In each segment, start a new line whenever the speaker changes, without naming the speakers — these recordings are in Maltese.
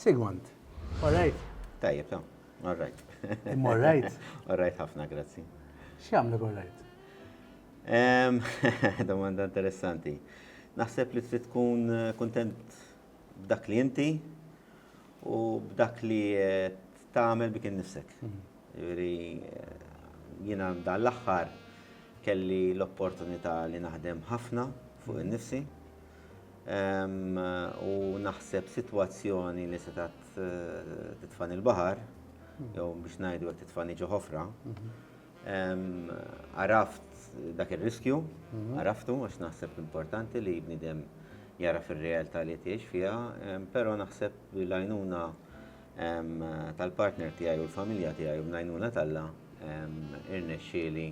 Sigmund, all right? Tajjeb, ta,
all right. Imma all right?
All right ħafna,
grazzi. X'jagħmlek all
right?
Domanda interessanti. Naħseb li trid tkun eh, kontent b'dak li inti u b'dak li eh, tagħmel bik innifsek. Hmm. Jiġri eh, jiena dan l-aħħar kelli l-opportunità li naħdem ħafna fuq hmm. innifsi. u naħseb sitwazzjoni li setgħet titfagħni l-baħar, jew biex ngħidu hekk titfagħni ġo ħofra. Għaraft dak ir-riskju, għaraftu għax naħseb importanti li bniedem jagħraf ir-realtà li qed jgħix fiha, però naħseb li l-għajnuna tal-partner tiegħi u l-familja tiegħi u bl-għajnuna t'Alla irnexxieli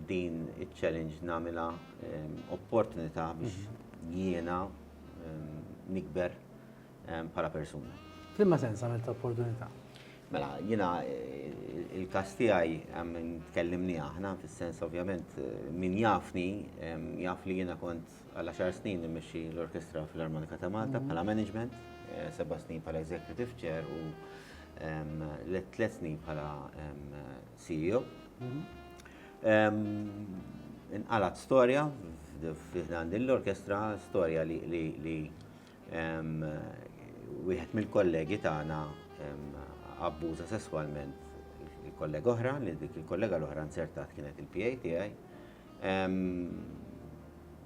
din iċ-challenge nagħmilha opportunità biex jiena nikber bħala persuna. F'liema sens għamiltha
opportunità? Mela, jiena
il-każ tiegħi tkellimni aħna fis-sens ovvjament min jafni jaf li jiena kont għal għaxar snin immexxi l-Orkestra Filarmonika ta' Malta bħala management, seba' snin bħala executive chair u tliet snin bħala CEO. Inqalgħet storja fi ħdan din l-orkestra, storja li wieħed mill-kollegi tagħna abbuża sesswalment il-kollega oħra, li dik il-kollega l-oħra nzertat kienet il-PA tiegħi.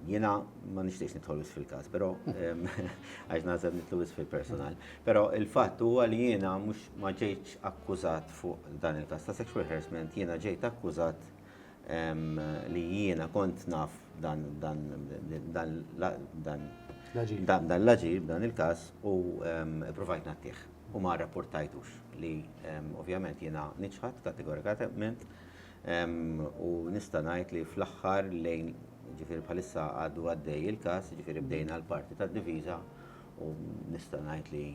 Jiena ma nixtiex nidħol wis fil-każ, però għax nażel nitlu wis fil-personal. Però il-fatt huwa li jiena mhux ma ġejtx akkużat fuq dan il-każ ta' sexual harassment, jiena ġejt akkużat li jiena kont naf dan l-aġir, dan il-każ u provajt nagħtih. U ma rrapportajtux li ovvjament jiena niċħad kategorikament U nista' ngħid li fl-aħħar lejn ġifieri bħalissa għadu għaddej il-każ, ġifieri bdejna l-parti tad-difiża u nista' ngħid li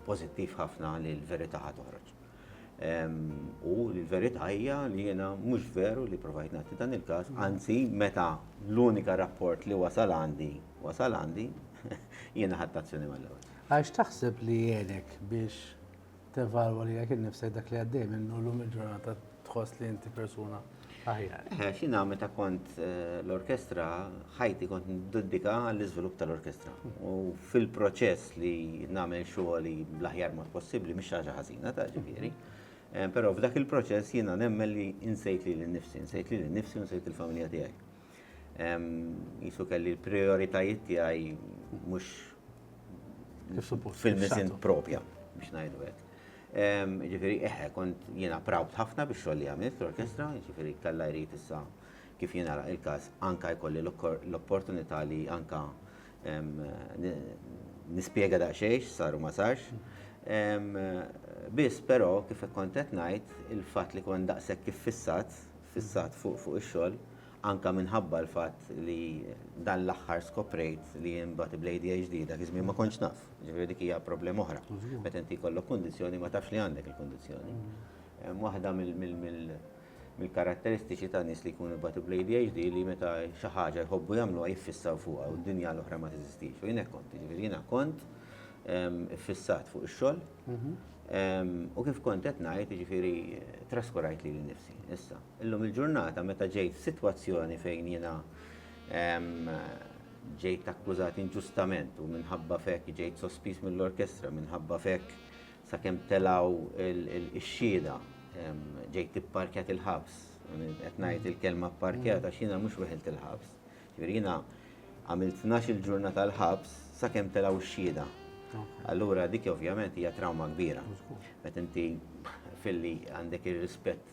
pożittiv ħafna li l-verità ħa toħroġ. U l-verità hija li jiena mhux veru li provajt nagħti dan il-każ, anzi meta l-unika rapport li wasal għandi wasal għandi, jiena ħadt azzjoni mal-ewwel. Għax taħseb li
għenek biex tevalwa li jekk innifsek dak li għaddej minnu l-lum il-ġurnata tħoss li inti persuna aħjar. Eh, xina meta
kont eh, l-orkestra, ħajti kont niddedika għall-iżvilupp tal-orkestra. U fil-proċess li nagħmel xogħli bl-aħjar mod possibbli mhix ħaġa ħażina ta' ġifieri. Eh, però f'dak il-proċess jiena nemmen li insejt li l-nifsi, insejt li l-nifsi, insejt il-familja tiegħi. Jisu kelli l-prioritajiet tiegħi mhux fil-misin propja biex ngħidu hekk. Ġifieri eħe kont jiena proud ħafna biex xogħol li għamilt l-orkestra, ġifieri kellha jrid issa kif jiena il-każ anka jkolli l-opportunità li anka nispjega daqsxejn saru ma sarx. Biss però kif kont qed ngħid il-fatt li kont daqshekk kif fissat fissat fuq ix-xogħol, anke minħabba l-fatt li dan l-aħħar skoprejt li jien bagħti bl-ADHD, dak iż-żmien ma kontx naf, jiġifieri dik hija problema oħra. Meta inti jkollok kundizzjoni ma tafx li għandek il-kundizzjoni. Waħda mill-karatteristiċi ta' nies li jkunu jbatu bl-ADHD li meta xi ħaġa jħobbu jagħmluha jiffissaw fuqha u d-dinja l-oħra ma teżistix. U jien hekk kont, jiġifieri jiena kont iffissat fuq ix-xogħol, U kif kont qed ngħid, jiġifieri traskurajt lili nnifsi. Issa, illum il-ġurnata meta ġejt f'sitwazzjoni fejn jiena ġejt akkużat inġustament u minħabba f'hekk ġejt sospiż mill-orkestra, minħabba f'hekk sakemm telgħu x-xhieda ġejt ipparkjat il-ħabs, qed ngħid il-kelma pparkjat għax jiena mhux weħilt il-ħabs, Jiġifieri jiena għamilt tnax-il ġurnata l-ħabs sakemm telgħu x-xhieda. Allura dik ovvjament hija trawma kbira. Meta inti filli għandek ir-rispett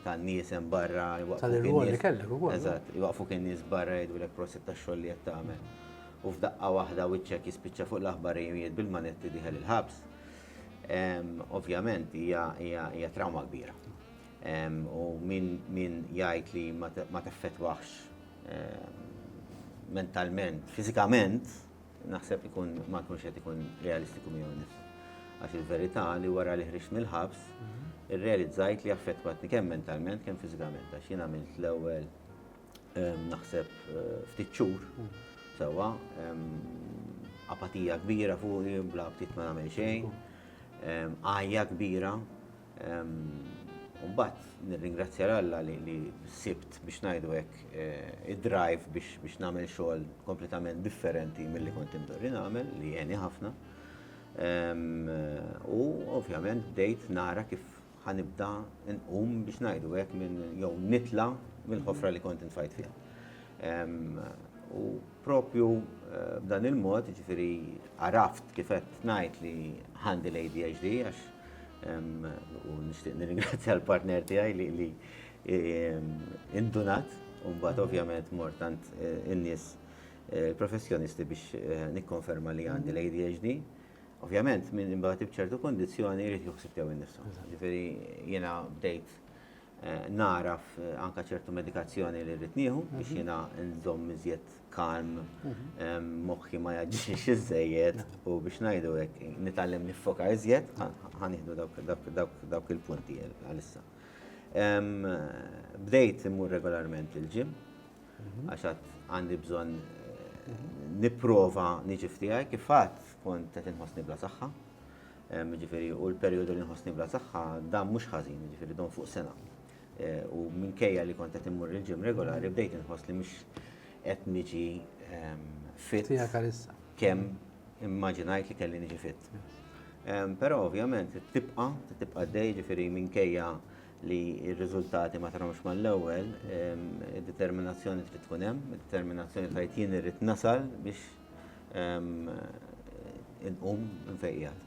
tan-nies hemm barra
jwaqfuk in-nies
barra jgħidulek prosit tax-xogħol li qed tagħmel. U f'daqqa waħda wiċċek jispiċċa fuq l-aħbar li wieħed bil-manetti dieħel il-ħabs. Ovvjament hija trawma kbira. U min jgħid li ma teffettwax mentalment, fiżikament, naħseb ikun ma jkunx qed ikun realistiku miegħu nnifsu. Għax il-verità li wara li ħriġt mill-ħabs, irrealizzajt li affettwatni kemm mentalment kemm fiżikament għax jien għamilt l-ewwel naħseb ftit xhur sewwa, apatija kbira fuqi, bla ftit ma nagħmel xejn, għajja kbira. U mbagħad nirringrazzja 'l Alla li sibt biex ngħidu hekk id-drive biex nagħmel xogħol kompletament differenti milli kont imdorri nagħmel li għeni ħafna. U ovvjament bdejt nara kif ħa nibda nqum biex ngħidu hekk minn jew nitla' mill-ħofra li kont intfajt fiha. U Proprju b'dan il-mod, jiġifieri għaraft kif qed ngħid li għandi l-ADHD għax u nixtieq nirringrazzja l-partner tiegħi li indunat u mbagħad ovvjament mort għand in-nies professjonisti biex nikkonferma li għandi l-ADHD. Ovvjament, min imbagħad iċ-ċertu kondizzjoni jrid joħsib tiegħu nnifsu. Jiġifieri jiena bdejt nagħraf anke ċertu medikazzjoni li rrid nieħu biex jiena nżomm iżjed kalm, moħħi ma jaġġiex iżżejjed u biex ngħidu hekk nitgħallem niffoka iżjed, ħa nieħdu dawk il-punti għalissa. Bdejt immur regolarment il-gym għax għad għandi bżonn nipprova niġi f'tiegħi kif għad kont qed inħossni bla saħħa. Jiġifieri, u l-perjodu li nħossni bla saħħa, dan mhux ħażin, jiġifieri dom fuq sena. U minkejja li kont qed immur il-gym regolari, bdejt inħoss li mhux qed niġi fit kemm immaġinajt li kelli niġi fit. Però ovvjament tibqa', tibqa' għaddej, jiġifieri minkejja li r-riżultati ma tarhomx mal-ewwel, id-determinazzjoni trid tkun hemm, id-determinazzjoni tgħid jien irrid nasal biex Inqum infejjaq.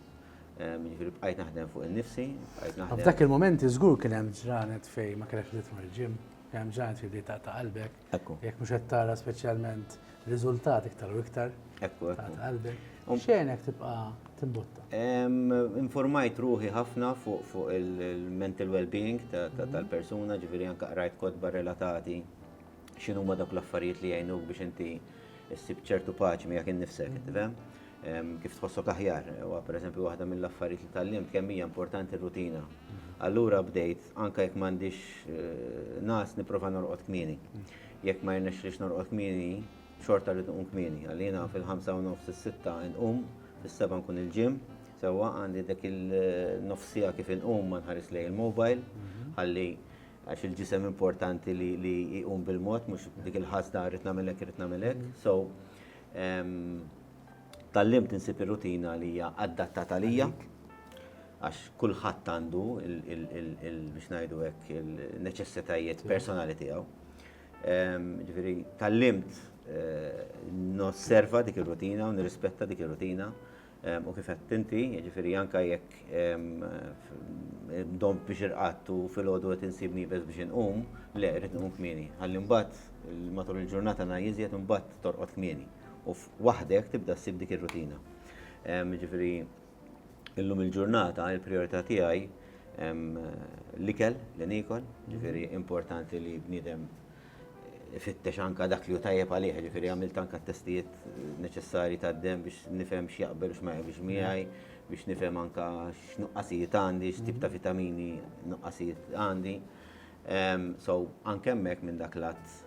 Ġifieri bqajt naħdem fuq innifsi, bqajt naħdem. F'dak il-mument żgur
kien hemm ġranet fejn ma kellekx trid tmur il-ġim, kien hemm ġranet fejn bdejt taqta' qalbek. Ekku. Jekk mhux qed tara speċjalment riżultat iktar u iktar. Ekku, ekku. Taqta' qalbek. X'għenek tibqa' timbotta?
Informajt ruħi ħafna fuq il-mental well-being tal-persuna, ġifieri anke qrajt kotba relatati x'inhuma dawk l-affarijiet li jgħinuk biex inti ssib ċertu paċi miegħek innifsek, inti fem? Kif tħossok aħjar, u pereżempju waħda mill-affarijiet li tallim kemm hija importanti r-rutina. Allura bdejt anke jekk m'għandix eh, nas nipprova norqod kmieni. Jekk ma jirnexxlix norqod kmieni, xorta li tqum kmieni. Għalina fil-5 u nofs is-sitta nqum, fis-seba' nkun il-ġim, sewwa għandi dak il-nofsija kif inqum ma nħares lej il-mobile, mhm. ħalli għax il-ġisem importanti li, li jqum bil-mod, mhux dik il-ħasda rrid nagħmel hekk, rrid nagħmel hekk. So um, tal-lim tinsib ir-rutina li hija adattata lija għax kulħadd għandu biex ngħidu hekk il-neċessitajiet personali tiegħu. Um, ġifieri tal-limt eh, nosserva dik ir-rutina u nirrispetta dik ir-rutina u kif għedt inti, jiġifieri anke jekk domt biex irqadt u filgħodu qed insib nieqes biex inqum, le, irrid inqum kmieni. Ħalli mbagħad matul il-ġurnata ngħi iżjed imbagħad torqod kmieni. U waħdek tibda ssib dik ir-rutina. Jiġifieri illum il-ġurnata l-prijorità tiegħi l-ikel li niekol, jiġifieri importanti li bniedem ifittex anke dak li hu tajjeb għalih, ġifieri għamilt anke t-testijiet neċessarji tad-demm biex nifhem x'jaqbel u x'ma jaqbilx miegħi, biex nifhem anke x'nuqqasijiet għandi, x'tip ta' vitamini nuqqasijiet għandi. So anke hemmhekk minn dak l-att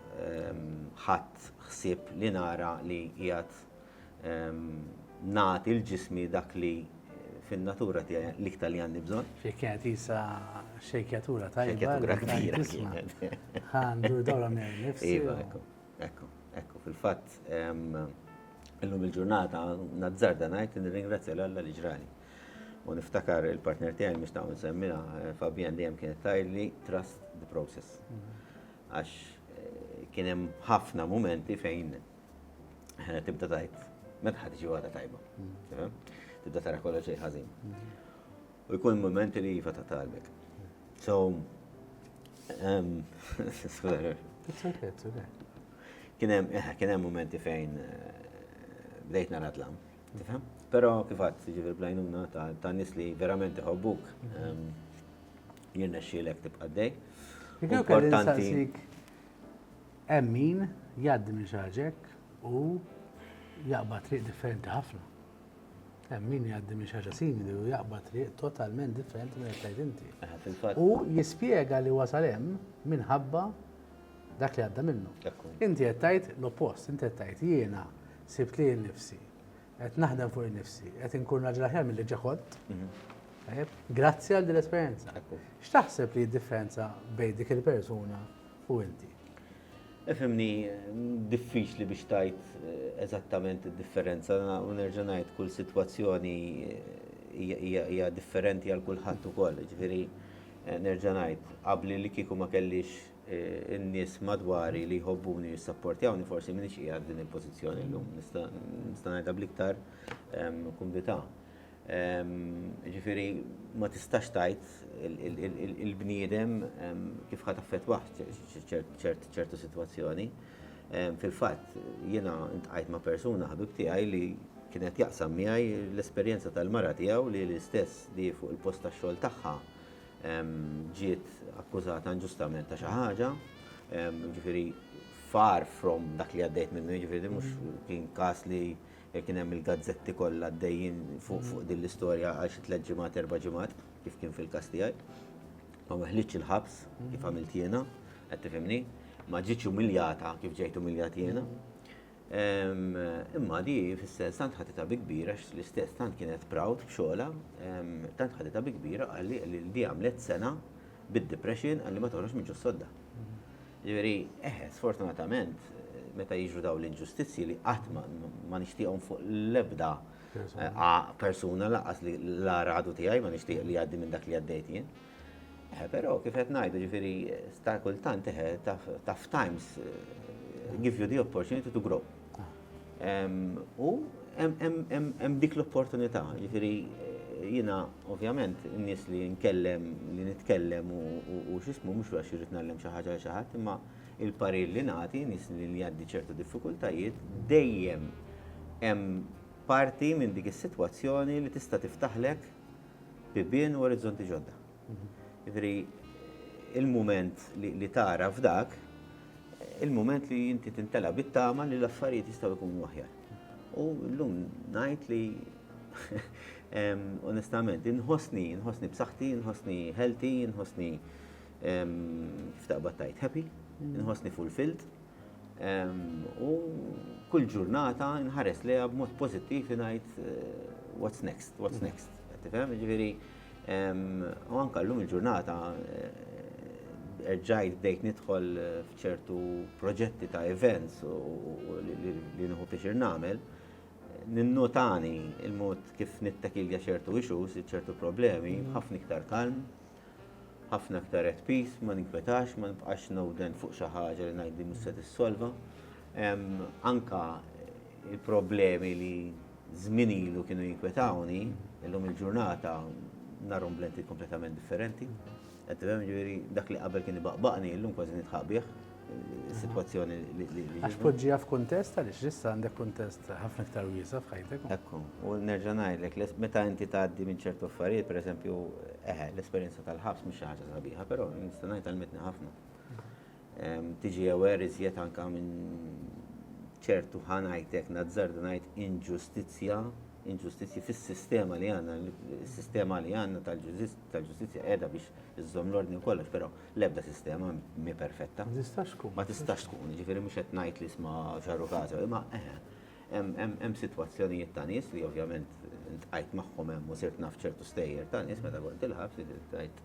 ħadt ħsieb li nara li qiegħed. nagħti l-ġismi dak li fin-natura tiegħi l-iktar li għandi bżonn. Xejn kienet jisa
xejkjatura tajba. Xejkjatura kbira.
Għandu dawra
minn nifsi. Iva, ekku,
ekku, ekku. Fil-fatt, illum il-ġurnata nazzarda ngħid nirringrazzja l-Alla li ġrali. U niftakar il-partner tiegħi mhux ta' nsemmina eh, Fabian dejjem kienet tajli trust the process. Mhm. Għax eh, kien hemm ħafna momenti fejn tibda tajt, meta ħad iġi għada tajba. Mm. Tibda tara kollha xejn ħażin. Mm. U jkun momenti li jiva ta' talbek. So, um, kienem, eh, kienem momenti fejn eh, bdejt nara tlam, tifhem? Pero kifat, ġifir blajnuna ta' nis li verament iħobbuk, um, jirna xielek tibqa' dej. Importanti.
Hemm min jgħaddi minn xi ħaġa hekk u jaqbad triq differenti ħafna. Hemm min jgħaddi minn xi ħaġa simili u jaqbad triq totalment differenti minn qed inti. Eh, u jispjega li wasal hemm minħabba dak li għadda minnu. Inti qed tgħid l-oppost, inti qed tgħid jiena sibt li nifsi qed naħdem fuq nifsi, qed inkun raġel aħjar mill-li ġaħod. Mhm. Grazzi għal din l-esperjenza. X'taħseb li d-differenza bejn dik il-persuna u inti. Efhimni,
diffiċli biex tgħid eżattament id-differenza u nerġa' ngħid kull sitwazzjoni hija differenti għal kulħadd ukoll. Jiġifieri nerġa' ngħid, qabli li kieku ma kellix in-nies madwari li jħobbuni u jissapportjawni forsi m'iniex qiegħed f'din il-pożizzjoni llum. Nista' ngħidha bl-iktar kumdità. Jiġifieri ma tistax tgħid il-bniedem kif ħa taffettwah ċertu sitwazzjoni. Fil-fatt jiena ntqajt ma' persuna ħabib tiegħi li kien qed jaqsam miegħi l-esperjenza tal-mara tiegħu li l-istess li fuq il-post tax-xogħol tagħha ġiet akkużata inġustament ta' xi ħaġa, jiġifieri far from dak li għaddejt minnu, jiġifieri mhux kien każ li Kien hemm il-gazzetti kollha għaddejjin fuq din l-istorja għal xi tliet ġimgħat, erba' ġimgħat, kif kien fil-każ tiegħi. Ma weħħlitx il-ħabs kif għamilt jiena, qed tifhimni? Ma ġietx umiljata kif ġejt umiljat jiena. Imma di fis-sens tant ħaditha bi kbira għax l-istess tant kienet proud b'xogħolha, tant ħaditha bi kbira qalli li di għamlet sena bid-depression qalli ma toħroġx minn ġo s-sodda. Jiġifieri, eħe, sfortunatament, meta jiġru dawn l-inġustizzji li qatt ma nixtieqhom fuq l-ebda persuna lanqas li l-agħar għadu tiegħi ma nixtieq li jgħaddi minn dak li għaddejt jien. Eħe, però kif qed ngħidu, jiġifieri, sta kultant eħe, tough times give you the opportunity to grow. U hemm dik l-opportunità, jiġifieri jiena ovvjament in-nies li nkellem, li nitkellem u x'ismu mhux għax irrid ngħallem xi ħaġa lil xi ħadd, imma l-parir li nagħti nies li jgħaddi ċertu diffikultajiet dejjem hemm parti minn dik is-sitwazzjoni li tista' tiftaħlek bibien u orizzonti ġodda. Jiġifieri il-mument li tagħraf dak, il-mument li inti tintela' bit-tama li l-affarijiet jistgħu jkunu aħjar. U llum ngħid li onestament, inħossni, inħossni b'saħħti, inħossni healthy, inħossni kif taqbad tajt happy, inħossni fulfilled. U kull ġurnata nħares lejha b'mod pożittiv ngħid eh, what's next, what's next. Tifhem? Ġifieri U anka llum il-ġurnata erġajt bdejt nidħol f'ċertu proġetti ta' events u li nħu pixir nagħmel. Ninnotani il-mod kif nittakilja ċertu issues, ċertu problemi, ħafna iktar kalm, ħafna iktar at peace, ma ninkwetax, ma nibqax nowden fuq xi ħaġa li ngħid li mhux se tissolva. Anka il-problemi li żmien ilu kienu jinkwetawni, illum il-ġurnata narhom b'lenti kompletament differenti. Qed tifhem ġifieri dak li qabel kien ibaqbaqni, illum kważi nidħaq bih situazzjoni li. Għax poġġija
f'kuntest għaliex issa għandek kuntest ħafna iktar wiesa f'ħajtek. Ekku, u nerġa'
ngħidlek, meta inti tgħaddi minn ċertu affarijiet, pereżempju, eħe, l-esperjenza tal-ħabs mhux xi ħaġa sabiħa, però nista' ngħid għalmitni ħafna. tiġi aware iżjed anke minn ċertu ħa ngħid hekk nazzard ngħid inġustizzja, inġustizzji fis-sistema li għandna, is-sistema li għandna tal-ġustizzja qiegħda biex iżżomm l-ordni u kollox, però l-ebda sistema mhi perfetta. Ma tistax tkun. Ma tistax tkun, jiġifieri mhux qed ngħid li isma' ġarru każ, imma eħe. Hemm sitwazzjonijiet ta' nies li ovvjament iltqajt magħhom hemm u sirt naf ċertu stejjer ta' nies meta kont il-ħabs li tgħid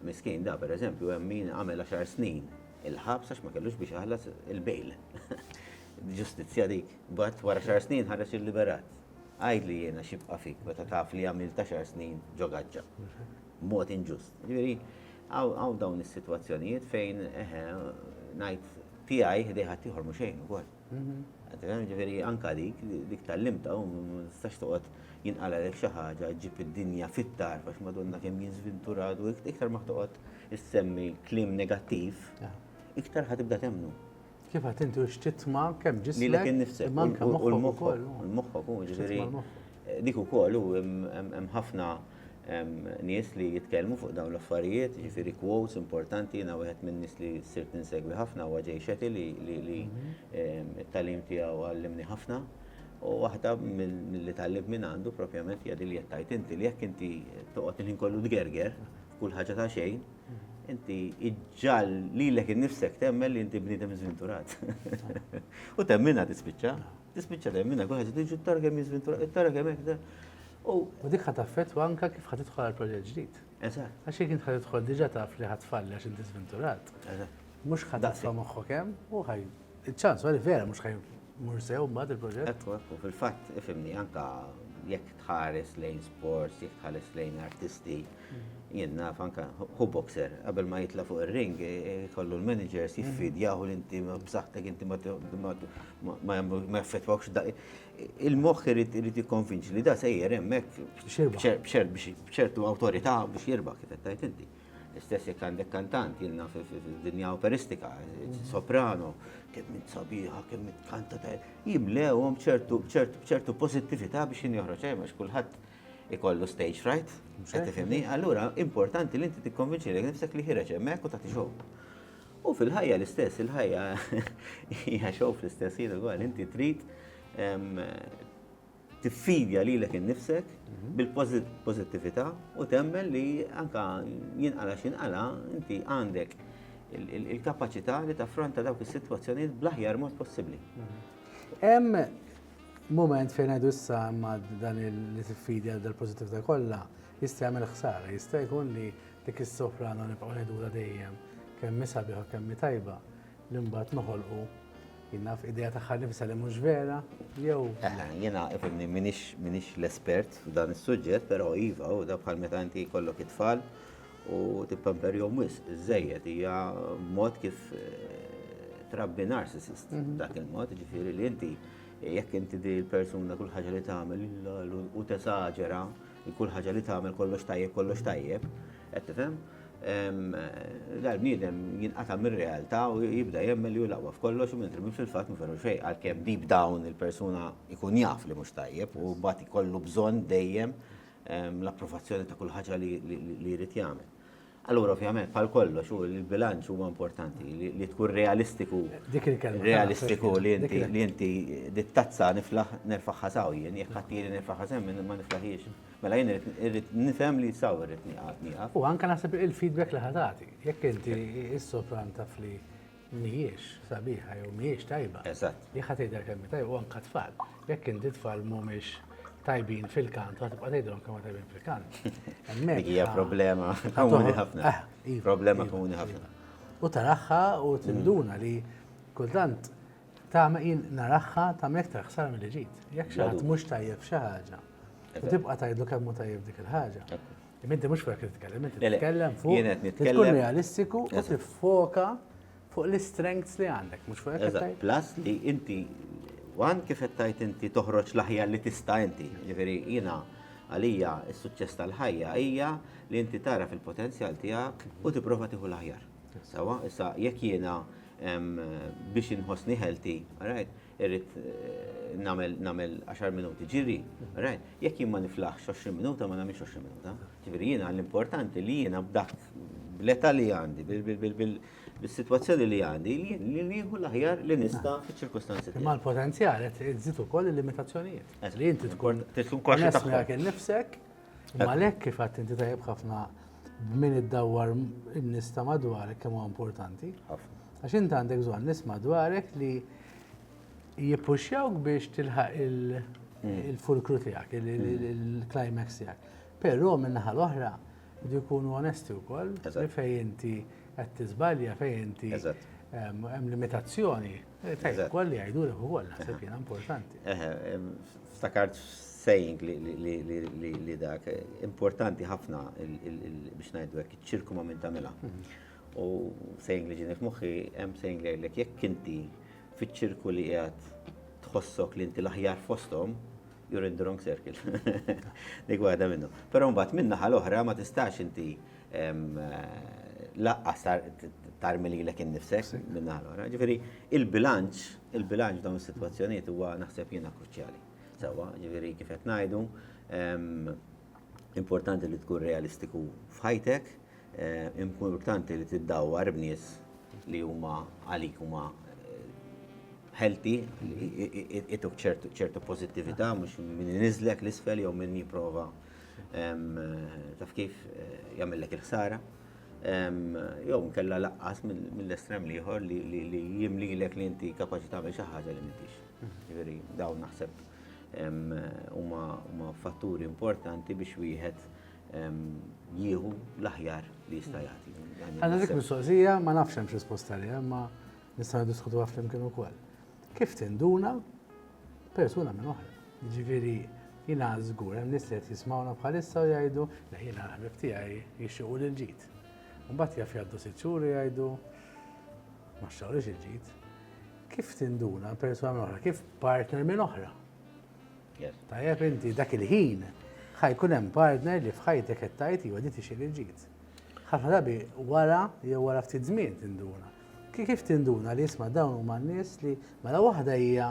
Miskin da, per eżempju, hemm min għamel għaxar snin il-ħabs għax ma kellux biex jaħlas il-bail. Ġustizzja dik. Bat wara xar snin ħareġ il-liberat. Għajdli jiena xibqa fik meta taf li għamil ta' xar snin ġo gaġġa. Mod inġust. Ġifieri, għaw dawn is-sitwazzjonijiet fejn eħe ngħid tiegħi ħdejħa tieħor mhux xejn ukoll. Qed tifhem? Jiġifieri anke dik, dik tgħallimtha u ma tistax toqgħod jinqalgħalek xi ħaġa ġġib id-dinja fit-tarf għax Madonna kemm jien żvinturat u iktar ma toqgħod issemmi kliem negattiv, iktar ħa tibda temmnu. Kif għedt inti u
x'titma' kemm ġismek imma anke moħħok ukoll. Lilek innifsek
u l-moħħok, il-moħħok hu, jiġifieri Dik ukoll u hemm ħafna nies li jitkellmu fuq dawn l-affarijiet, jiġifieri quotes importanti, jiena wieħed min-nies li sirt insegwi ħafna huwa Jay Shetty li t-tagħlim tiegħu għallimni ħafna. U waħda milli tgħallimt minn għandu propjament hija din li qed tgħid inti, li jekk inti toqgħod il-ħin kollu tgerger f'kull ħaġa ta' xejn, inti iġġagħal lilek innifsek temmen li inti bniedem żvinturat. U temminha tispiċċa. Tispiċċa dejjem minn hekk, wieħed irid jiġu t-tara kemm jiżmin tura, it-tara kemm hekk da. U dik
ħadd affettwa anke kif ħadd tidħol għal proġett ġdid. Eżatt. Għax jekk int
ħadd tidħol
diġà taf li ħadd tfalli għax inti żvinturat. Eżatt. Mhux ħadd titfa' moħħok hemm u ħaj. Iċ-ċans huwa li vera mhux ħaj mur sew mbagħad il-proġett. Ekku, ekku, fil-fatt
ifhimni anke jekk tħares lejn sports, jekk tħares lejn artisti, jien naf anke hu boxer qabel ma jitla' fuq ir-ring ikollu l-managers jiffidjaw li inti b'saħħtek inti ma ma jagħmlu ma jaffettwawx da. Il-moħħ irid irid jikkonvinċi li da sejjer hemmhekk b'ċertu awtorità biex jirba' kif qed tgħid inti. Istess jekk għandek kantant jilna fid-dinja operistika, soprano, kemm int sabiħa, kemm int kanta ta' jimlewhom ċertu pożittività biex jien joħroġ hemm għax kulħadd ikollu stage right, se tifhimni, allura importanti li inti tikkonvinċi li nifsek li ħireġ hemmhekk u tagħti xogħol. U fil-ħajja l-istess, il-ħajja hija xow fl-istess ħin ukoll, inti trid tiffidja li l innifsek mhm. bil-pozittività u temmen li anka jinqala xinqala inti għandek il-kapacità li taffronta dawk is-sitwazzjonijiet bl-aħjar mod possibbli. Mhm. Hemm
moment fejn għadu issa ma dan il-tifidja dal-pozittività kollha jista' jagħmel ħsara, jista' jkun li Dik is-soprano nibqgħu ngħidulha dejjem kemm hi sabiħa u kemm hi tajba li mbagħad noħolqu jien naf idea tagħha nnifisha li mhux vera jew. Eħe, jiena
ifhimni m'iniex l-espert f'dan is-suġġett, però iva, u da bħal meta inti jkollok it-tfal u tippamperjhom wisq biżżejjed hija mod kif eh, trabbi narcissist mhm. dak il-mod, ġifieri li inti jekk inti di l-persuna kull ħaġa li tagħmel u tesaġera Kull ħaġa li tagħmel kollox tajjeb, kollox tajjeb, qed tifhem? Dal-bniedem jinqata' mir-realtà u jibda jemmen li hu laqwa f'kollox u mentri minn fil-fatt ma ferru xejn għalkemm deep down il-persuna jkun jaf li mhux tajjeb u mbagħad ikollu bżonn dejjem l-approvazzjoni ta' kull ħaġa li jrid jagħmel. Allura ovvjament bħal kollox u l-bilanċ huwa importanti li tkun realistiku. Dik il-kelma. Realistiku li inti li inti dittazza niflaħ nerfaħħa saw jien jekk ħaddili nerfaħħa sem ma niflaħiex. Mela jien irrid nifhem li saw irrid nieqaf. U anke naħseb il-feedback
li ħadati. Jekk inti is-sopran taf li mhijiex sabiħa jew mhijiex tajba. Eżatt. Li ħadd jgħidha
kemm tajba
u anke tfal. Jekk inti tfal mhumiex tajbin fil-kant, u tibqa' tgħidhom kemm tajbin fil-kant. Dik hija
problema komuni ħafna. Ah, iva, problema iva, komuni ħafna. Iva. U taraħħa
u mm. tinduna li kultant ta' jien naraħħa ta' mektar ħsar mill ġid. Jekk xi ħadd mhux tajjeb xi ħaġa. U tibqa' tgħidlu kemm tajjeb dik il-ħaġa. Minti mhux fuq titkellem, inti titkellem fuq. Jien qed nitkellem. Tkun realistiku u tiffoka fuq l-istrengths li għandek, mhux fuq qed Plus li
inti wan kif qed tajt inti toħroġ l-aħjar li tista' inti. Ġifieri jiena għalija s-suċċess tal-ħajja hija li inti tara fil-potenzjal tiegħek u tipprova tieħu l-aħjar. Sawa, issa jekk jiena biex inħossni ħelti, irrid nagħmel 10 minuti ġiri, rajt, jekk jien ma niflaħx 20 minuta ma nagħmilx 20 minuta. Ġifieri jiena l-importanti li jiena b'dak bl-età li għandi, bis-sitwazzjoni li għandi, li nieħu l-aħjar li nista' fiċ-ċirkustanzi. Imma l-potenzjal
qed iżid ukoll il-limitazzjonijiet. Li inti tkun tkun kwaxxa dak innifsek U għalhekk kif għad inti tajjeb ħafna b'min iddawwar in-nies ta' madwarek kemm huwa importanti. Għax inti għandek bżonn nies madwarek li jippuxjawk biex tilħaq il-fulkru tiegħek, il-climax tiegħek. Però min-naħa l-oħra jdu jkunu onesti wkoll li fejn inti qed tiżbalja, fejn inti hemm limitazzjoni. Tajjeb, ukoll li jgħidulek ukoll naħseb jiena importanti.
Ftakart saying li dak importanti ħafna biex ngħidu hekk iċ-ċirku ma' min tagħmilha. Mhm. U saying li ġieni f'moħħi hemm saying li jgħidlek jekk inti fiċ-ċirku li qiegħed tħossok li inti l-aħjar fosthom, you're in the wrong circle. Dik waħda minnu. Però mbagħad min-naħa l-oħra ma tistax inti Laqqas tarmi lilek innifsek minn naħa l-oħra. Ġifieri il-bilanċ, il-bilanċ f'dawn is-sitwazzjonijiet huwa naħseb jiena kruċjali. Sewwa, ġifieri kif qed ngħidu, importanti li tkun realistiku f'ħajtek, importanti li tiddawwar b'nies li huma għalik huma healthy, ituk ċertu pożittività mhux min iniżżlek l-isfel jew min jipprova taf kif jagħmillek il-ħsara, jew nkella laqqas mill-estrem l-ieħor li jimlilek li inti kapaċi tagħmel xi ħaġa li m'intix. Jiġifieri dawn naħseb huma fatturi importanti biex wieħed jieħu l-aħjar li jista' jagħti. Għandha dik mistoqsija
ma nafx hemm xi sposta li hemm ma nistgħu niddiskutuha flimkien ukoll. Kif tinduna persuna minn oħra. Jiġifieri jiena żgur hemm nies li qed jismgħuna bħalissa u jgħidu, le jiena l-ħbieb tiegħi jixtiequ lil ġid. Imbagħad jaf jgħaddu sitt xhur u jgħidu ma xtaqlux il-ġid. Kif tinduna persuna minn oħra, kif partner minn oħra? Tajjeb inti dak il-ħin ħajkun hemm partner li f'ħajtek qed tgħid iwa di tixil il-ġid. Ħafna drabi wara jew wara ftit żmien tinduna. Kif tinduna li jisma' dawn huma n-nies li mela waħda hija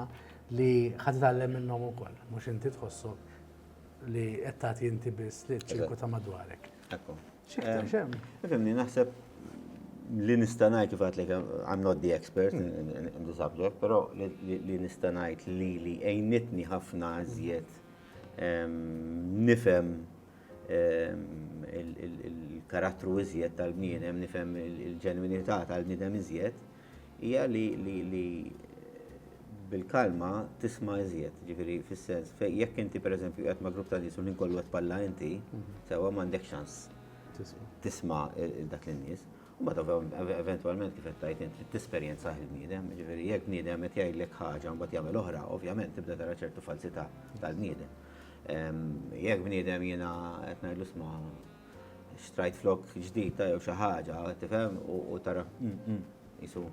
li ħad tgħallem minnhom ukoll, mhux inti tħossok li qed tagħti inti biss li ċirku ta' madwarek. Ekku. X'iktar
xem?
Fimni naħseb
li nista' ngħid fatt li I'm not the expert in the subject, però li nista' ngħid li li għejnitni ħafna iżjed nifhem il-karattru iżjed tal-bniedem, nifhem il-ġenwinità tal-bniedem iżjed, hija li bil-kalma tisma' iżjed, ġifieri fis-sens fejn jekk inti pereżempju qiegħed ma' grupp ta' nies u l-ħin kollu qed tpalla inti, sewwa m'għandek ċans tisma' dak in-nies. U mbagħad eventwalment kif qed tgħid int trid tesperjenzah il-bniedem, jiġifieri jekk bniedem qed jgħidlek ħaġa mbagħad jagħmel oħra, ovvjament tibda tara ċertu falsità tal-bniedem. Jekk bniedem jiena qed ngħidlu sma' xtrajt flok ġdid ta' jew xi ħaġa, tifhem u tara jisu.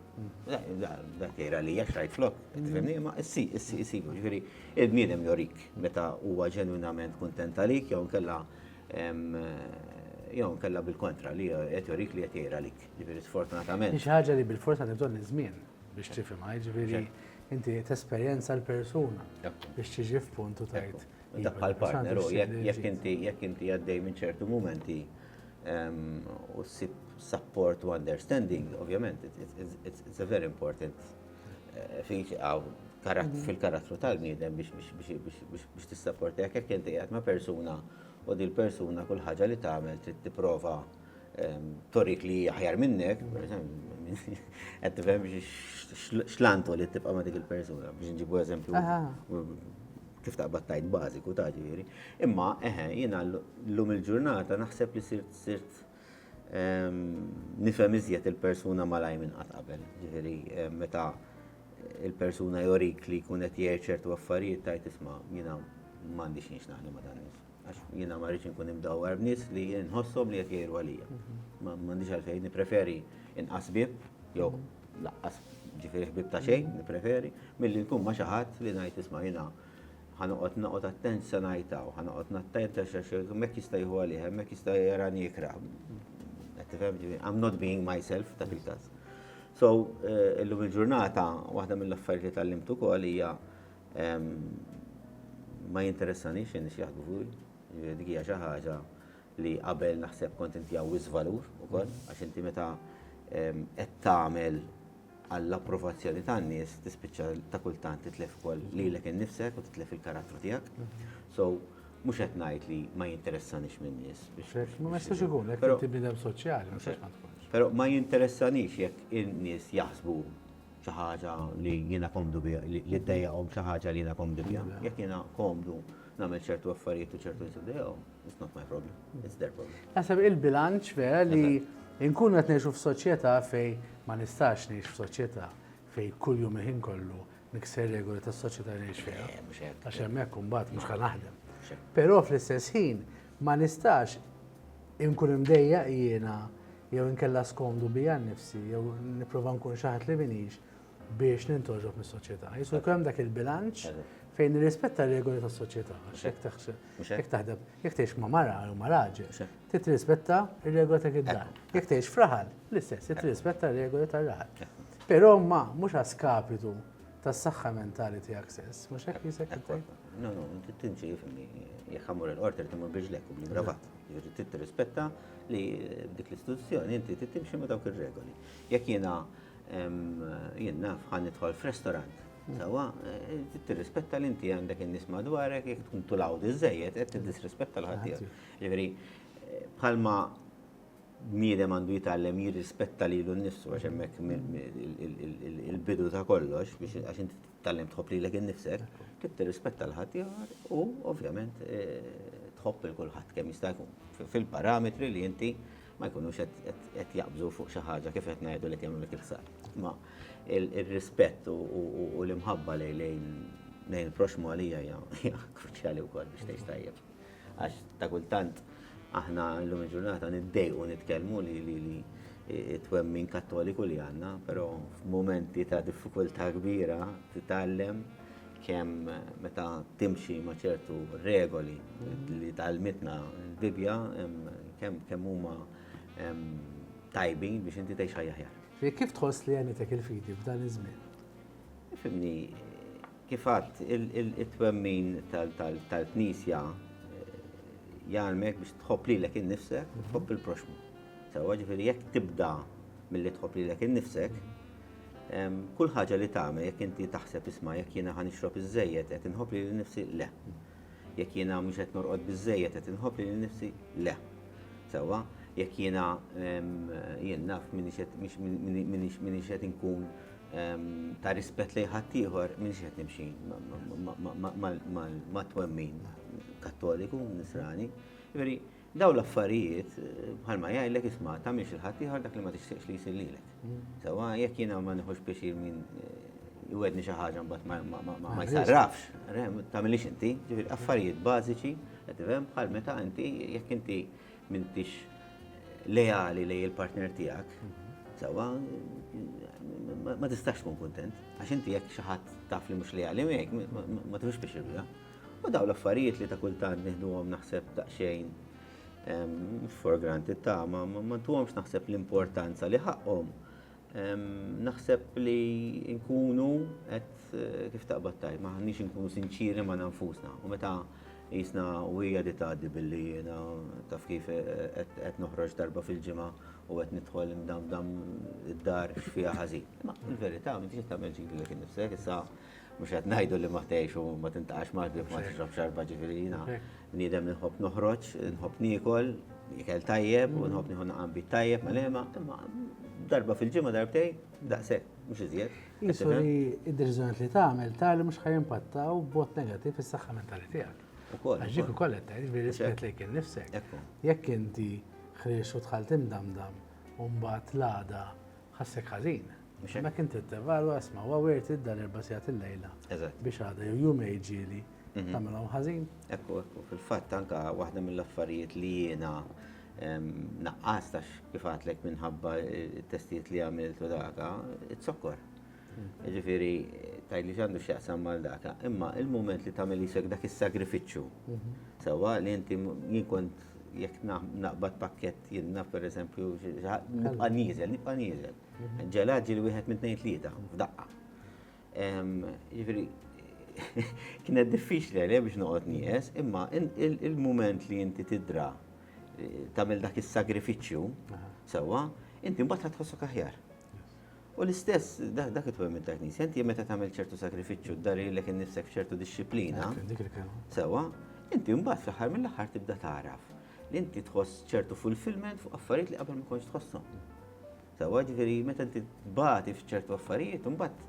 Dak jgħira li jekk xtrajt flok, tifhimni, ma issi, issi, issi, ġifieri il-bniedem jorik meta huwa ġenwinament kuntent għalik jew inkella jew inkella bil-kontra li qed jorik li qed jgħira għalik. Ġifieri sfortunatament. Hi xi ħaġa li bil-fors
għandha bżonn iż-żmien. biex tifhimha, jiġifieri inti tesperjenza l-persuna biex tiġi f'punt u tajt. Dak bħal-partner,
jekk inti jekk inti għaddej minn ċertu mumenti ehm, u ssib support u understanding, ovvjament, it's a very important eh, feature mhm. fil-karattru tal-bniedem biex tissapporti jekk inti għad ma' persuna u dil persuna kull ħaġa li tagħmel trid tipprova Torik li hi aħjar minnek, qed tifhem x'lantu li tibqa' ma' dik il-persuna biex nġibu eżempju kif taqbad tajt bażiku ta' ġifieri. Imma eħe, jiena llum il-ġurnata naħseb li sirt sirt nifhem iżjed il-persuna malaj minn qatt qabel. Ġifieri meta il-persuna jorik li jkun qed jgħid ċertu affarijiet tgħid isma' jiena m'għandix xi nixtaqni ma' dan. għax jiena ma rridx inkun imdawwar b'nies li nħossom li qed jgħiru għalija. Ma m'għandix għalfejn nippreferi inqas bib jew laqqas ġifieri ħbib ta' xejn nippreferi milli nkun ma' xi ħadd li ngħid isma' jiena ħanoqgħod noqgħod attent se ngħidha u ħanoqgħod nattent għax hemmhekk jista' jieħu għalih, hemmhekk jista' jarani ikra. Qed tifhem ġifieri, I'm not being myself dak il-każ. So, eh, illum il-ġurnata, waħda mill-affarijiet li tal-limtu kol hija Ma jinteressanix in-nies x'jaħsbu fih. Jiġifieri dik hija xi ħaġa li qabel naħseb kont intiha wisq valur ukoll għax inti meta qed tagħmel għall-approvazzjoni tan-nies tispiċċa ta' kultant titlef ukoll lilek innifsek u titlef il-karattru tiegħek. So mhux qed ngħid li ma jinteressanix min-nies. Ma jistax
ikun, jekk inti bniedem soċjali. Però ma jinteressanix
jekk in-nies jaħsbu xi ħaġa li jiena komdu biha, li ddejjaqhom xi ħaġa li jiena komdu biha. Jekk jiena komdu nagħmel ċertu affarijiet u ċertu nies iddejjaqhom, it's not my problem, it's their problem. Naħseb il-bilanċ
vera li nkunu qed ngħixu f'soċjetà fejn ma nistax ngħix f'soċjetà fejn kuljum il-ħin kollu nikser regoli tas-soċjetà li ngħix fiha. Eh, għax hemmhekk imbagħad mhux ħa naħdem. Però fl-istess ħin Ma nistax inkun imdejjaq jiena jew inkella skomdu bija nnifsi jew nipprova nkun xi ħadd li m'iniex biex nintgħoġob mis-soċjetà. Jista' jkun hemm dak il-bilanċ fejn nirrispetta r-regoli tas-soċjetà. Jekk taħdem, jekk tgħix ma' mara jew ma' raġel, trid tirrispetta r-regola ta' id-dar. Jekk tgħix f'raħal, l-istess, trid tirrispetta r-regoli tar-raħal. Però ma mhux a skapitu Tas-saħħa mentali tiegħek stess, mhux hekk jisek tgħid? No, no, tinti
jifhimni, jekk ħammur il-qorti li timmur biex lekk u bli gravat. Jiġri trid tirrispetta li dik l-istituzzjoni inti trid timxi ma' dawk ir-regoli. Jekk jiena jien naf ħan nidħol f'restaurant Sawa, eh, t-rispetta li inti għandek in-nies madwarek, jek tkun tulaw diżejjed, qed tiddisrispetta l-ħaddieħor. Ġifieri, eh, bħalma bniedem għandu jitgħallem jirrispetta lilu nnifsu għax hemmhekk il-bidu ta' kollox biex għax inti titgħallem tħobb lilek innifsek, trid tirrispetta l ħaddieħor u ovvjament eh, tħobb il kulħadd kemm jista' jkun fil-parametri li inti ma jkunux qed jaqbżu fuq xi ħaġa kif qed ngħidu li kemm lek il-sar. Ma il-rispett u l-imħabba lejn il-proxmu għalija hija kruċjali wkoll biex tgħix tajjeb. Għax ta' kultant aħna llum il-ġurnata niddejqu nitkellmu li li li twemmin kattoliku li għandna, però f'mumenti ta' diffikultà kbira titgħallem kemm meta timxi ma' ċertu regoli li tgħallmitna l-Bibbja kemm kemm huma tajbin biex inti tgħix ħajja aħjar. Kif tħoss li għenitek
il-fidi f'dan iż-żmien? Ifhimni,
Kif għadt, it-twemmin tal-Knisja jgħallmek biex tħobb lilek innifsek u tħobb il-proxxmu. Sewwa, ġifieri jekk tibda milli tħobb lilek innifsek, kull ħaġa li tagħmel jekk inti taħseb isma' jekk jiena ħa nixrob iżżejjed qed inħobb lili nnifsi le. Jekk jiena mhux qed norqod biżżejjed qed inħobb lili nnifsi le. Sewwa, jekk jiena jien naf minix qed inkun ta' rispett lejn ħaddieħor minix qed nimxi mat-twemmin Kattoliku, Nisrani. Veri, daw l-affarijiet bħalma jgħidlek isma' tagħmilx il-ħaddieħor dak li ma tixtieqx li jsir lilek. Sewa jekk jiena ma nieħux pjaċir min jwedni xi ħaġa mbagħad ma jsarrafx, tagħmilix inti, ġifieri affarijiet bażiċi, qed bħal meta inti jekk inti m'intix leali lej il-partner tiegħek, sewwa ma tistax tkun kuntent. Għax inti jekk xi ħadd taf li mhux leali miegħek, ma tkunx pixirja. U daw l-affarijiet li ta' kultant nieħduhom naħseb daqsxejn ehm, for granted ta' ma ma ntuhomx naħseb l-importanza li ħaqqhom. Naħseb li nkunu qed kif taqbad tajt, ma ħanniex inkunu sinċieri ma' nfusna. U meta jisna u hija di tgħaddi billi jiena taf kif qed noħroġ darba fil-ġimgħa u qed nidħol imdammdam id-dar x'fiha ħażin. Ma l-verità m'intix qed tagħmel ġidlek innifsek issa. Mhux qed ngħidu li ma tgħix u ma tintaqax mal-bieb ma tixrob xarba ġifieri jiena bniedem li nħobb noħroġ, nħobb niekol, ikel tajjeb u nħobb nieħu naqam bit tajjeb ma' lema, imma darba fil-ġimgħa darbtej, daqshekk, mhux iżjed. Qisu li
d-deċiżjonijiet li tagħmel tali mhux ħa jimpattaw b'mod negattiv fis-saħħa mentali tiegħek. Ukoll. Għax dik ukoll qed tgħid bir-rispett lejk innifsek. Jekk inti ħriġt u dħalt imdamdam u mbagħad l-għada ħassek ħażin. Mhux hekk? Hemmhekk inti tevalwa isma' huwa wirt idda l-erba' sigħat il-lejla. Eżatt. Biex għadha jew jum għid ġieli mhm. tagħmilhom ħażin. Ekku, ekku, fil-fatt
anka waħda mill-affarijiet li jiena naqqas tax kif għatlek minħabba t-testijiet li għamilt u daka, it-sokkor. Mhm. Ġifiri, tajli ġandu xieqsam mal daka, imma il-moment li tamil jisek dak il-sagrifiċu, mhm. sewa li inti jinkont jek naqbad pakket jinnaf per eżempju, nibqa nizel, nibqa nizel. Ġelad ġieli wieħed minn tnejn tlieta, f'daqqa. Ġifieri, kienet diffiċli għalija biex noqgħod nieqes, imma il-mument li inti tidra tagħmel dak is-sagrifiċċju sewwa, inti mbagħad ħadd tħossok aħjar. U l-istess, dak it minn ta' knisja, inti meta tagħmel ċertu sagrifiċċju, dari l innifsek ċertu disċiplina, sewa, inti mbagħad fl-aħħar mill-aħħar tibda taraf. li inti tħoss ċertu fulfillment fuq affarijiet li qabel ma kontx tħossom. Sawa ġifieri meta inti tbati f'ċertu affarijiet, imbagħad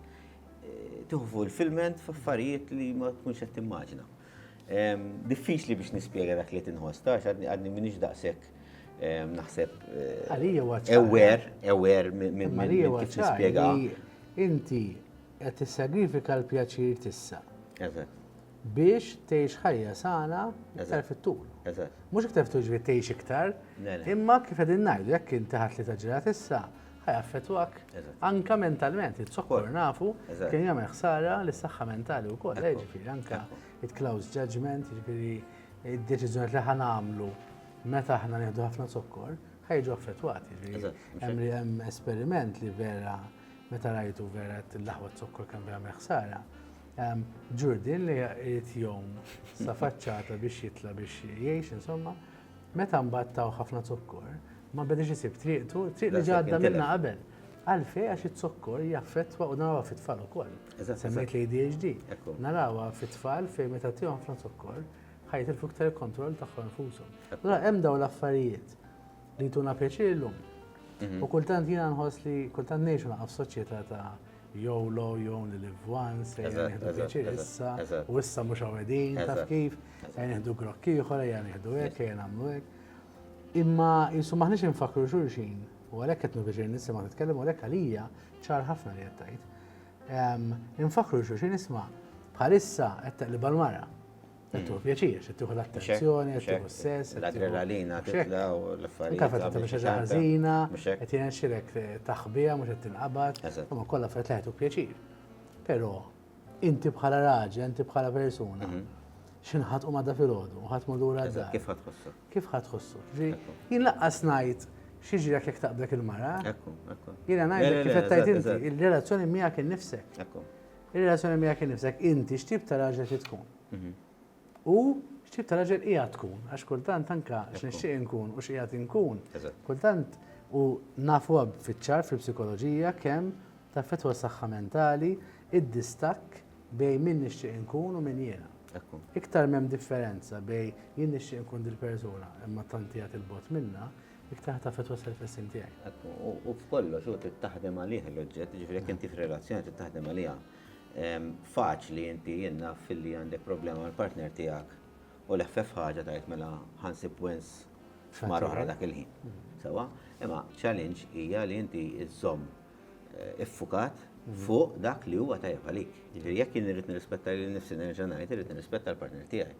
eh, tieħu fulfillment f'affarijiet li ma tkunx qed timmaġina. Ehm, diffiċli biex nispjega dak li tinħoss, tax għadni minix daqshekk ehm, naħseb eh, ewer, ewer minn kif nispjega. Inti
qed tissagrifika l-pjaċir tissa. Eżatt. biex tgħix ħajja sana iktar fit-tul. Mhux iktar fit-tul ġifieri tgħix iktar, imma kif qegħdin ngħidu jekk inti ħadd li taġġelat issa, ħajaffettwak anke mentalment, il-zokkor nafu kien jagħmel ħsara lis-saħħa mentali wkoll, eh, ġifieri anke it-close judgment, ġifieri id-deċiżjoni li ħa nagħmlu meta aħna nieħdu ħafna zokkor, ħajġu affettwati. Hemm hemm esperiment li vera meta rajtu vera t-laħwa zokkor kemm vera ħsara. Ġurdi li irid jom sa faċċata biex jitla biex jgħix, insomma, meta mbagħad taw ħafna zokkor, ma bedex isib triqtu, triq li ġadda minna qabel. Għalfej għax it-zokkor jaffettwa u narawa fit-tfal ukoll. Semmejt li ADHD. Narawa fit-tfal fejn meta tihom ħafna zokkor, ħajt il-fuktar kontroll tagħhom nfushom. Allora hemm dawn l-affarijiet li tuna pjaċir illum. Mhm. U kultant jiena nħoss li kultant ngħixu naqaf soċjetà ta' Jew lo, jew only live once, ejja Eżatt, nieħdu eżatt, pjaċir eżatt, issa, eżatt. u issa mhux hawn qegħdin, taf Eżatt, kif, eżatt. ejja nieħdu grokk ieħor, ejja nieħdu hekk, ejja nagħmlu hekk. Imma jisu maħniex infakru xulxin, u għalhekk qed nieħu pjaċir nisimgħek titkellem, u għalhekk għalija ċar ħafna li qed tgħid. Ehm, Infakru xulxin isma' bħalissa qed teqlibha l-mara. Qed tieħu pjaċir, qed tieħu l-attenzjoni, qed tieħu s-sess. L-adrenalina titla'
u l-affarijiet. Taf qed tagħmel xi ħaġa
ħażina, qed jirnexxilek taħbiha mhux qed tinqabad, imma kollha fejn tlaħet u pjaċir. Però inti bħala raġel, inti bħala persuna, mhm. xinħat u madda fil-ħodu, u ħat madura d Kif ħat ħossu? Kif
ħat ħossu?
Jien laqqas najt xieġi għak jek taqblek il-mara. Ekku, ekku. Jina najt kif tajt inti, il-relazzjoni miegħek innifsek. Ekku. Ir-relazzjoni miegħek innifsek, inti x'tip ta' raġel trid tkun. U x'tip ta' raġel qiegħed tkun, għax kultant anke x'nixtieq inkun u x'qiegħed inkun. Kultant u nafu fiċ-ċar fil-psikoloġija kemm taffettwa s-saħħa mentali d-distakk bejn min nixtieq inkun u min jiena. Iktar m'hemm differenza bejn jien nixtieq inkun dil-persuna imma tant qiegħed 'il bogħod minnha, Iktar taf qed twassal il-fessin tiegħi. Ekku, u f'kollox
hu trid taħdem għalih l-oġġett, jiġifieri jekk inti f'relazzjoni trid taħdem għaliha. Faċli inti jien naf illi għandek problema mal-partner tiegħek u l-eħfef ħaġa tgħid mela ħa nsib wens f'mara oħra dak il-ħin. Sewwa? Imma challenge hija li inti żżomm iffukat fuq dak li huwa tajjeb għalik. Jiġifieri jekk jien irrid nirrispetta lil nifsi nerġa' ngħid irrid nirrispetta l-partner tiegħi.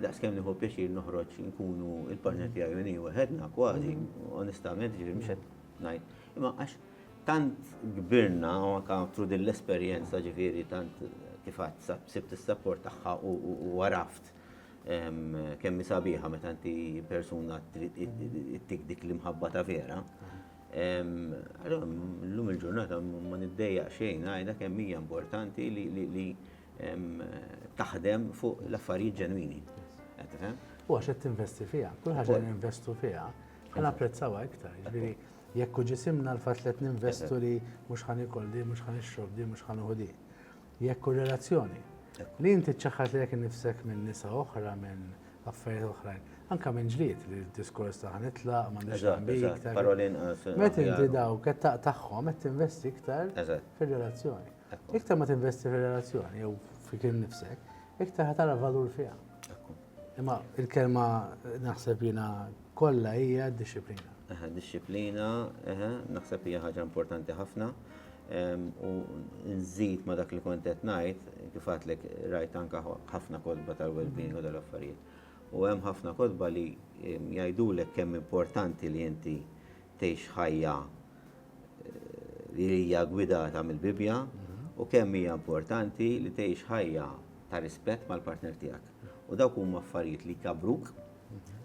Daqs kemm nieħu pjaċir noħroġ nkunu il-partner tiegħi u nieħu ħedna kważi, onestament, ġifieri mhux qed ngħid. Imma għax tant kbirna u anke tru din l-esperjenza ġifieri tant kif għad sibt is-sapport tagħha u għaraft kemm sabiħa meta inti persuna ttik dik l-imħabba ta' vera. Allora, llum il-ġurnata ma niddejjaq xejn, għajda kemm hija importanti li taħdem fuq l-affarijiet ġenwini. U
għax qed tinvesti fiha, kull ħaġa li ninvestu fiha, ħana apprezzawha iktar. Ġifieri jekk ġisimna l-fatt li qed ninvestu li mhux ħan ikol di, mhux ħan ixrob di, mhux ħan uħu di. Jekk u relazzjoni. Li inti ċaħħat li jekk nifsek minn nisa oħra, minn affarijiet oħrajn. Anka minn ġlied li diskors ta' ħanitla, ma nixtaq. Parolin. Met
inti daw,
qed taqtaħħom, qed tinvesti iktar fir-relazzjoni. Iktar ma tinvesti fir-relazzjoni jew fik innifsek, iktar ħa tara valur fiha. Imma il-kelma naħseb jiena kollha hija d-dixxiplina. Eħe, dixxiplina,
eħe, naħseb hija ħaġa importanti ħafna. U nżid ma dak li kont qed ngħid, kif għadlek rajt anke ħafna kodba tal-well-being u dal-affarijiet. U hemm ħafna kodba li jgħidulek kemm importanti li inti tgħix ħajja li hija gwidata mill-Bibbja u kemm hija importanti li tgħix ħajja ta' rispett mal-partner tiegħek. U dawk huma affarijiet li jkabbruk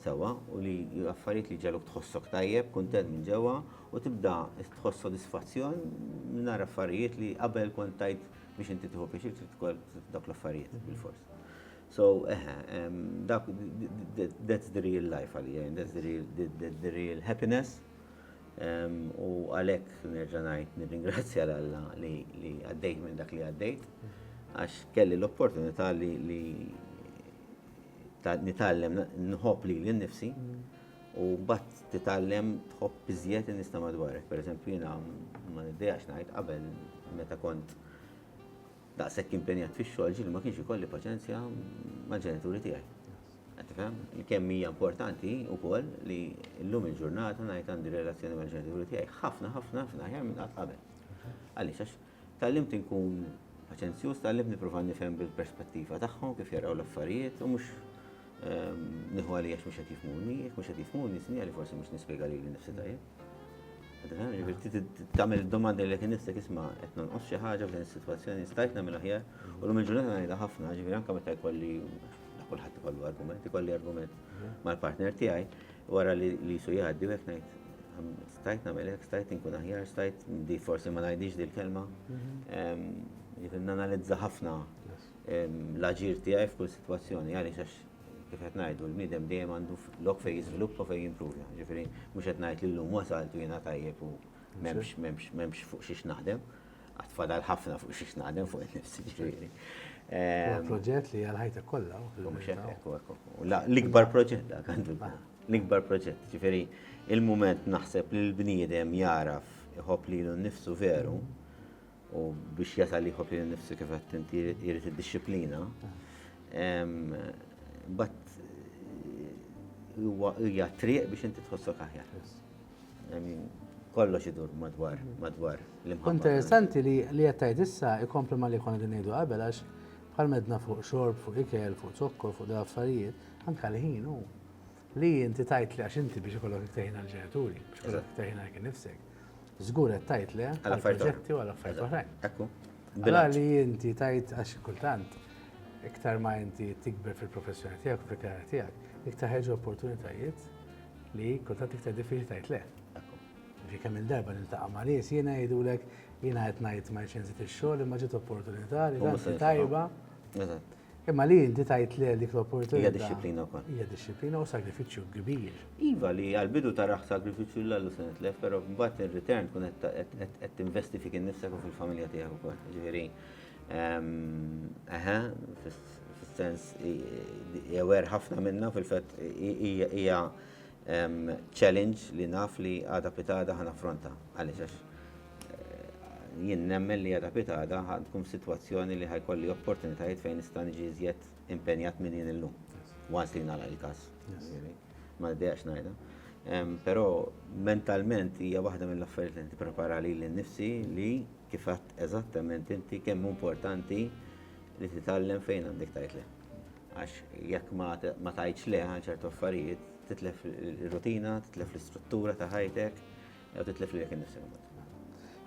sewwa u li affarijiet li ġaluk tħossok tajjeb, kuntent minn ġewwa u tibda tħoss sodisfazzjon mingħajr affarijiet li qabel kont tajt biex inti tieħu pjaċir trid ukoll dawk l-affarijiet bil-fors. So, eħe, dak that's the real life għalija, that's the real, the, the, the real happiness U għalhekk nerġa' ngħid nirringrazzja l Alla li għaddejt minn dak li għaddejt għax kelli l-opportunità li nitgħallem nħobb li l-nifsi u bat titgħallem tħobb iżjed nista madwarek. Per eżempju, jina ma niddejax ngħid qabel meta kont Daqshekk impenjat fix-xogħol ġieli ma kienx ikolli paċenzja mal-ġenituri tiegħi. Qed tifhem? Kemm hija importanti wkoll li llum il-ġurnata ngħid għandi relazzjoni mal-ġenituri tiegħi ħafna ħafna ħafna aħjar minn qatt qabel. Għaliex għax tallimt inkun paċenzjuż, tallimt nipprova nifhem bil-perspettiva tagħhom kif jaraw l-affarijiet u mhux ehm, nieħu għalija mhux qed jifhmuni, jekk mhux qed jifhmuni sinjali forsi mhux nispjega lili nnifsi tajjeb. Tamil domanda li kien nifsek isma' qed nonqos xi ħaġa f'din is-sitwazzjoni stajt nagħmel aħjar u lum il-ġurnata ngħidha ħafna, ġifieri anke meta jkolli kulħadd ikollu argument, ikolli argument mhm. mal-partner tiegħi wara li jisu jgħaddi u hekk ngħid stajt nagħmel hekk, stajt inkun aħjar, stajt di forsi ma ngħidix dil kelma mhm. Jifin nanalizza ħafna l-aġir tiegħi f'kull sitwazzjoni għaliex għax kif qed ngħidu, l-bniedem dejjem għandu lok fejn jiżviluppa u fejn jimprovja. Ġifieri mhux qed ngħid li llum wasalt u jiena tajjeb u m'hemmx fuq xiex naħdem, għad fadal ħafna fuq xiex naħdem fuq in-nifs ġifieri. Huwa proġett
li għal ħajtek kollha. L-ikbar
proġett dak għandu. L-ikbar proġett. Ġifieri il-mument naħseb li l-bniedem jagħraf iħobb lilu nnifsu veru, u biex jasal li jħobb li nifsu kif qed inti jrid id-disciplina. But huwa hija triq biex inti tħossok aħjar. Kollox idur madwar madwar l-imħabba. Interessanti li
li qed tgħid issa ikompli ma li konna din ngħidu qabel għax bħal medna fuq xorb, fuq ikel, fuq zokkor, fuq dal affarijiet, anke l-ħin hu. Li inti tajt li għax inti biex ikollok iktar ħin għall-ġenituri, biex ikollok iktar ħin għal kien nifsek. Żgur qed tajt le għal proġetti u għal affarijiet oħrajn. Ekku. Bela
li
inti tajt għax kultant iktar ma inti tikber fil-professjoni tiegħek u fil-karriera tiegħek, iktar ħeġu opportunitajiet li kultant iktar diffiċli tajt le. Ġi kemm il-darba niltaqa' ma' nies jiena jgħidulek jiena qed ngħid ma jċenzit ix-xogħol imma ġiet opportunità li tajba. Imma li inti tajt le dik l-opportunità. Hija disciplina wkoll. Hija
disciplina u
sagrifiċċju kbir. Iva li għal-bidu
taraħ sagrifiċċju l għallu se nitlef, però mbagħad in-return tkun qed tinvesti fik innifsek u fil-familja tiegħek ukoll. Ġifieri, eħe, fis-sens jewer ħafna minna fil-fatt hija Hemm challenge li naf li għada pitada ħa naffronta. Għaliex għax eh, jien nemmen li għada pitada ħa tkun f'sitwazzjoni li ħajkolli opportunitajiet fejn nista' niġi iżjed impenjat minn jien illum. Once li nagħlaq il-każ. Ma nidejaqx ngħidha. Però mentalment hija waħda mill-affarijiet li nipprepara li l-nifsi li kif għadt eżattament inti kemm importanti li titgħallem fejn għandek tajt le. Għax jekk ma tgħidx le għal ċertu affarijiet, titlef ir-rutina, titlef l-istruttura ta' ħajtek, jew titlef lilek innifsek imbagħad.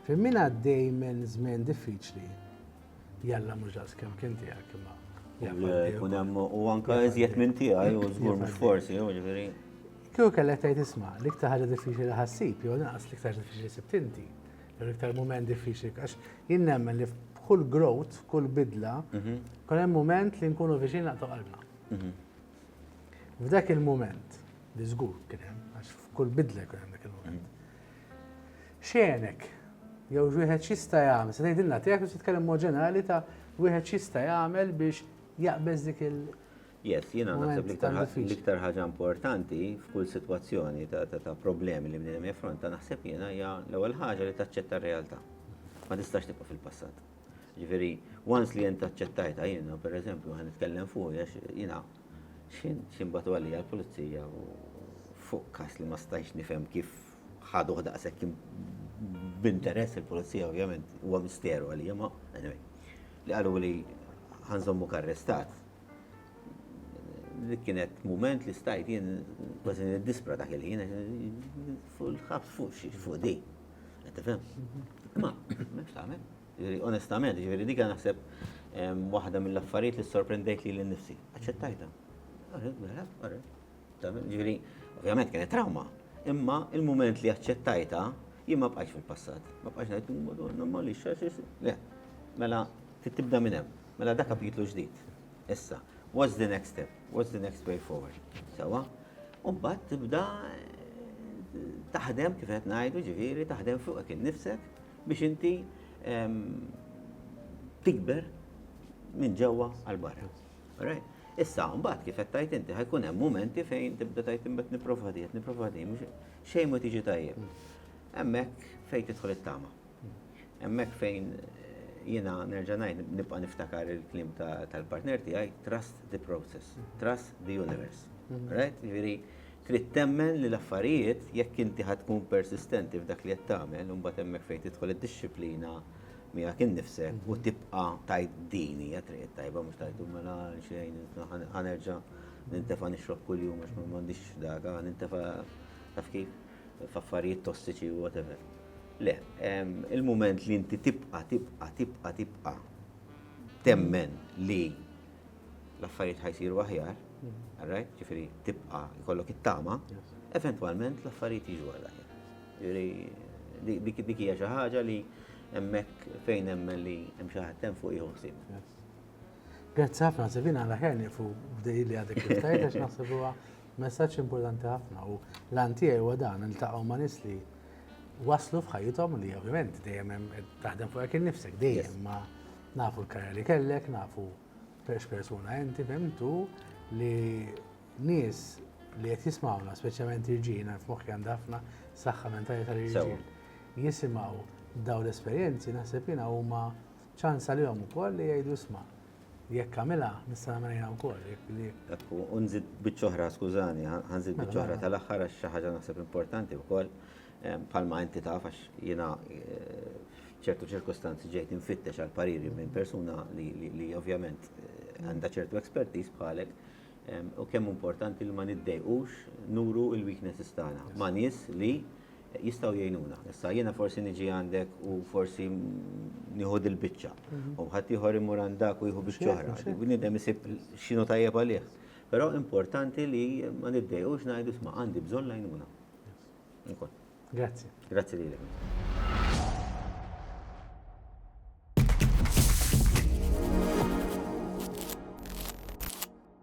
Fejn min
għaddej minn żmien diffiċli, jalla mhux daqs kemm kien tiegħek imma. Kun hemm
u anke iżjed minn tiegħi u żgur mhux forsi, jew ġifieri. Kieku kellek
tgħid isma' l-iktar ħaġa diffiċli ħassib jew naqas l-iktar diffiċli sib tinti. Dan l-iktar mument diffiċli, għax jien nemmen li f'kull growth, f'kull bidla, mhm. kun hemm mument li nkunu viċin naqtu qalbna. Mhm. F'dak il-mument, li żgur kien hemm, għax f'kull bidla jkun hemm dak il-mument. Mhm. Xenek, jew wieħed xista jagħmel, se tgħidilna tiegħek u titkellem mod ġenerali ta' wieħed xista jagħmel biex jaqbeż dik il- Yes, jiena
naħseb l-iktar ħaġa importanti f'kull sitwazzjoni ta' problemi li bniedem jaffronta naħseb jiena hija l-ewwel ħaġa li taċċetta r-realtà. Ma tistax tibqa' fil-passat. Ġifieri, once li jien taċċettajta jiena, pereżempju, ħan nitkellem fuq għax jiena x'imbatu għalija l-pulizija fuq kas li ma stajx nifhem kif ħaduh daqshekk b'interess il-pulizija ovvjament huwa misteru għalija ma anyway. Li qalu li ħanżommu karrestat Dik kienet mument li stajt jien kważi niddispra dak il-ħin fuq il-ħabs fuq xi fuq di. Qed tifhem? Ma, mhux tagħmel. Ġifieri onestament, ġifieri dik naħseb waħda mill-affarijiet li sorprendejt li l-nifsi. Aċċettajta. Mela, ġifieri, ovvjament kienet trauma, imma il-mument li aċċettajta jien ma bqajx fil-passat. Ma bqajx ngħid, madonna, ma li xaxis. Le, mela, tibda minn hemm. Mela da kapitlu ġdid. Issa, what's the next step? What's the next way forward? Sewa? U mbagħad tibda taħdem kif qed ngħidu ġifieri taħdem fuqek innifsek biex inti tikber minn ġewwa għal barra. Alright? Issa, mbagħad kif qed tajt inti ħajkun hemm momenti fejn tibda tajt imbagħad nipprova di, qed nipprova di, xejn ma tiġi tajjeb. Hemmhekk fejn tidħol it-tama. Hemmhekk fejn jiena nerġa' ngħid nibqa' niftakar il-kliem tal-partner tiegħi, trust the process, trust the universe. Right? Jiġifieri trid temmen li l-affarijiet jekk inti ħad tkun persistenti f'dak li qed tagħmel, imbagħad hemmhekk fejn tidħol id-dixxiplina miegħek innifsek u tibqa' tajt din hija triq it-tajba mhux tajtu mela xejn ħanerġa' nintefa' nixrob kuljum għax m'għandix daka, nintefa' taf kif f'affarijiet tossiċi u whatever. Le, il-mument li inti tibqa', tibqa', tibqa', tibqa' temmen li l-affarijiet ħajsiru aħjar, alright, ġifieri tibqa' jkollok it-tama, eventwalment l-affarijiet jiġu għal aħjar. Ġifieri dik hija xi ħaġa li hemmhekk fejn hemmen li hemm xi ħadd hemm fuq jieħu ħsieb.
Grazzi ħafna, Sivina, għal aħjar nieqfu b'dej li għadek kif tajt għax naħseb huwa messaġġ importanti ħafna u l-għan tiegħi huwa dan, niltaqgħu ma' nies li waslu f'ħajjithom li ovvjament dejjem hemm taħdem fuqek innifsek dejjem ma nafu l-karja li kellek, nafu perx persuna enti fimtu li nies li qed jismawna, speċjalment irġiel, naf moħħi għandha ħafna saħħa mentali tal-irġiel. Jisimgħu daw l-esperjenzi naħseb jiena huma ċans għalihom ukoll li jgħidu sma' Jekk għamilha, nista' nagħmel jiena wkoll, jekk li. Ekku, u
nżid biċċa oħra, skużani, ħanżid biċċa oħra tal-aħħar għax xi ħaġa naħseb importanti wkoll, bħalma inti taf għax jiena f'ċertu ċirkustanzi ġejt infittex għal pariri minn persuna li ovvjament għandha ċertu expertise bħalek, u kemm importanti li ma niddejqux nuru l-weaknesses tagħna ma' nies li jistgħu jgħinuna. Issa jiena forsi niġi għandek u forsi nieħu dil-biċċa. Mhm. U ħadd ieħor imur għandak u jieħu biċċa oħra. Bniedem isib x'inhu tajjeb għalih. Però importanti li ma niddejqux ngħidu sma' għandi bżonn lajnuna. Grazzi. Grazzi lilek.